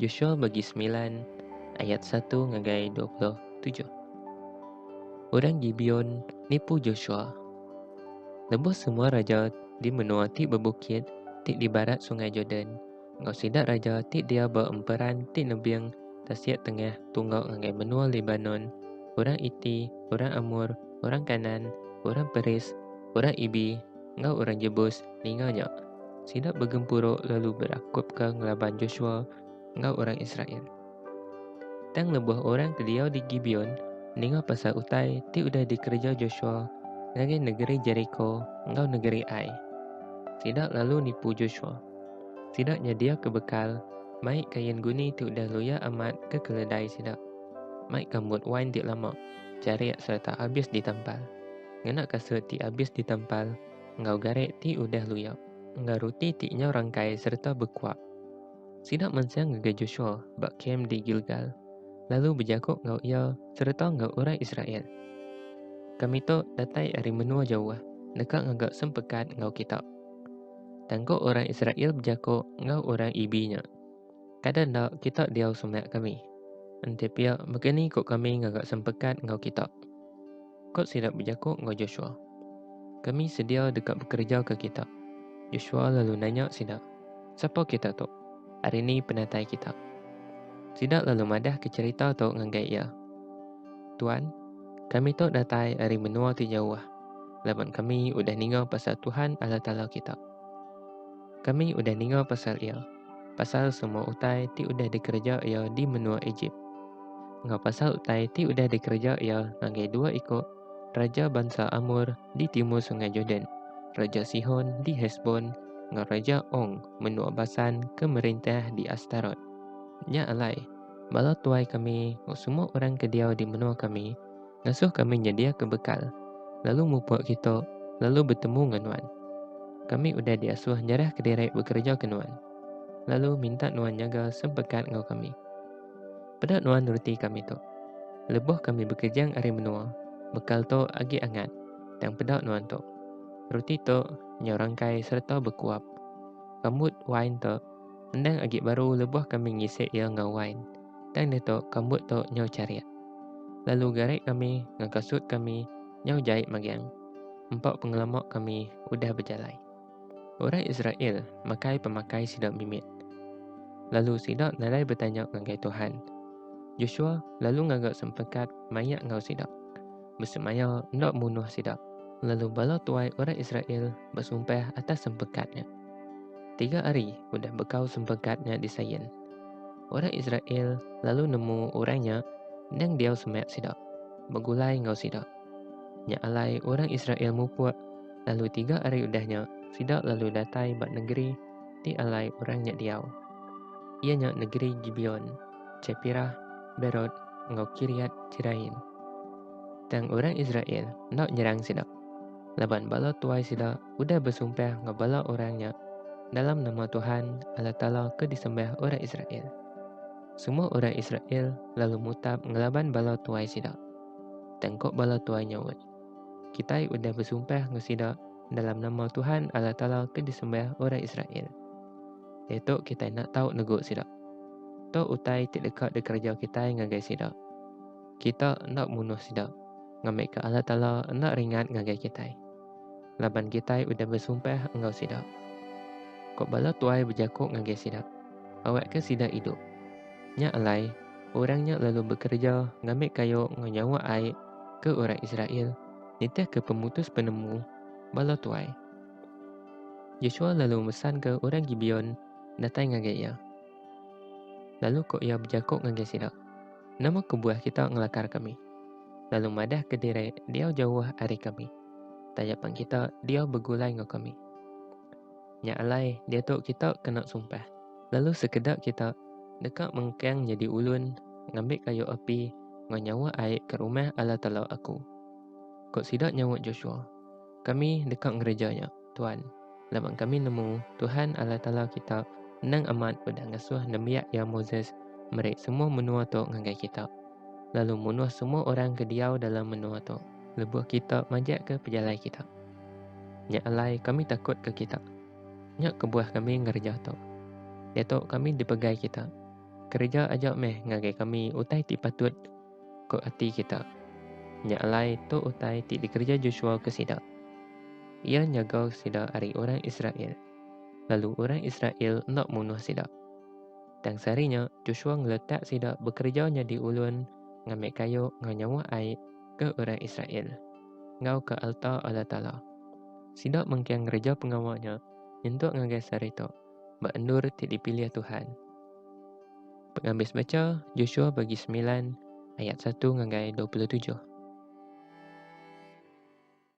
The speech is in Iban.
Joshua bagi semilan ayat satu ngagai dua puluh tujuh. Orang Gibeon nipu Joshua. Lebuh semua raja di menua ti bebukit ti di barat Sungai Jordan enggau sida raja ti dia ba emperan ti nebing tasik tengah tunggau ngagai menua Lebanon, orang Iti, orang Amor, orang Kanan, orang Peris, orang Ibi, Enggau orang Jebus ninga nya, sida begempuru lalu berakupka ngelaban Joshua enggau orang Israel. Tang lebuh orang ke diau di Gibeon ninga pasal utai ti udah dikereja Joshua ngagai negeri Jeriko enggau negeri Ai, sida lalu nipu Joshua. Sida nyediaka bekal, mai kain guni ti udah luya amat ke keledai sida, mai kambut wain ti lama, jarik sereta abis ditampal. ngena kasut ti abis ditempal enggau garek ti udah luyap, enggau ruti ti nyau rangkai sereta bekuak. Sida mansang ngagai Joshua ba kem di Gilgal, lalu bejaku enggau iya sereta enggau orang Israel, Kami tu datai ari menua jauh deka ngaga sempekat enggau kita. Tang ku orang Israel bejaku enggau orang Ibi nya, Kada enda kita diau semak kami. Enti pia, mega ni ku kami ngaga sempekat enggau kita? Kot sida bejaku enggau Joshua, Kami sedia deka bekerejaka kita. Joshua lalu nanya sida, Sapa kita tu? Ari ni penatai kita? Sida lalu madahka cherita tu ngagai iya, Tuan, kami tu datai ari menua ti jauh, laban kami udah ninga pasal Tuhan Allah Taala kita. Kami udah ninga pasal Iya, pasal semua utai ti udah dikereja iya di menua Ejip, enggau pasal utai ti udah dikereja iya ngagai dua iku raja bansa Amor di timur Sungai Jordan, Raja Sihon di Hesbon enggau Raja Ong menua Basan ke merintah di Astarot. Nya alai, bala tuai kami enggau semua orang ke diau di menua kami ngasuh kami nyediaka bekal, lalu mupuk kita lalu betemu enggau nuan. Kami udah diasuh nyerah kediri bekereja ke nuan, lalu minta nuan nyaga sempekat enggau kami. Peda nuan neruti kami tu. Lebuh kami bekejang ari menua, bekal tu agi angat, tang peda nuan tu. Ruti tu nyau rangkai sereta bekuap. Rambut wain tu endang agi baru lebuh kami ngisi iya enggau wain. Tang ditu kambut tu nyau charik. Lalu garik kami ngaga sut kami nyau jai magiang. Empa pengelama kami udah bejalai. Orang Israel makai pemakai sida mimit. Lalu sida nadai betanya ngagai Tuhan. Joshua lalu ngaga sempekat maya enggau sida. Besemaya enda munuh sida. Lalu bala tuai orang Israel besumpah atas sempekat nya. Tiga hari udah bekau sempekat nya disain. orang Israel lalu nemu orang nya endang diau semak sida, begulai enggau sida. Nya alai orang Israel mupuk, lalu tiga hari udah nya sida lalu datai ba negeri ti alai orang nya diau. Iya nya negeri Gibeon, Chepirah, Berot enggau Kiriat Jeraim. Tang orang Israel enda nyerang sida, laban bala tuai sida udah besumpah enggau bala orang nya dalam nama Tuhan Allah Taala ke disembah orang Israel. Semua orang Israel lalu mutap ngelaban bala tuai sida. Tengkok bala tuai nyaut, Kitai udah besumpah enggau sida dalam nama Tuhan Allah Taala ke disembah orang Israel. Letok kitai nak tahu neguk sida. To utai ti deka dikerja kitai ngagai sida. Kita nak munuh sida. Ngambika Allah Taala nak ringat ngagai kitai. laban kitai udah besumpah enggau sida. Ko bala tuai bejako ngagai sida, Awakka sida idup. Nya alai, orang nya lalu bekereja ngambi kayu enggau nyawa ai ke orang Israel nitihka pemutus penemu bala tuai. Joshua lalu mesanka orang Gibeon datai ngagai iya. Lalu ko iya bejako ngagai sida, Nama kebuah kita ngelakar kami? Lalu madah ke diri diau jauh ari kami. Taja pan kita diau begulai enggau kami. Nya alai diatu kita kena sumpah. Lalu sekeda kita deka mengkang nyadi ulun ngambi kayu api enggau nyawa ai ke rumah Allah Taala aku. Ku sida nyaut Joshua, Kami deka ngereja nya. Tuan. Laban kami nemu Tuhan Allah Taala kita endang amat udah ngesuh nembiak iya Moses meri semua menua tu ngagai kita, lalu munuh semua orang ke diau dalam menua tu, lebuh kita majaka pejalai kita. Nya alai kami takutka kita. Nya kebuah kami ngereja tu. Diatu kami dipegai kita. Kereja aja meh ngagai kami utai ti patut ku ati kita. Nya alai tu utai ti dikereja Joshua ke sida. Iya nyaga sida ari orang Israel, lalu orang Israel enda munuh sida. Tang sehari nya, Joshua ngeletak sida bekereja nyadi ulun ngambi kayu enggau nyawa ai ke orang Israel enggau ke alta Allah Taala. Sida mengkang ngereja pengawa nya nyentuk ngagai sehari tu. ba endur ti dipilih Tuhan. Pengambis mecha Joshua bagi semilan ayat satu ngagai dua puluh tujuh.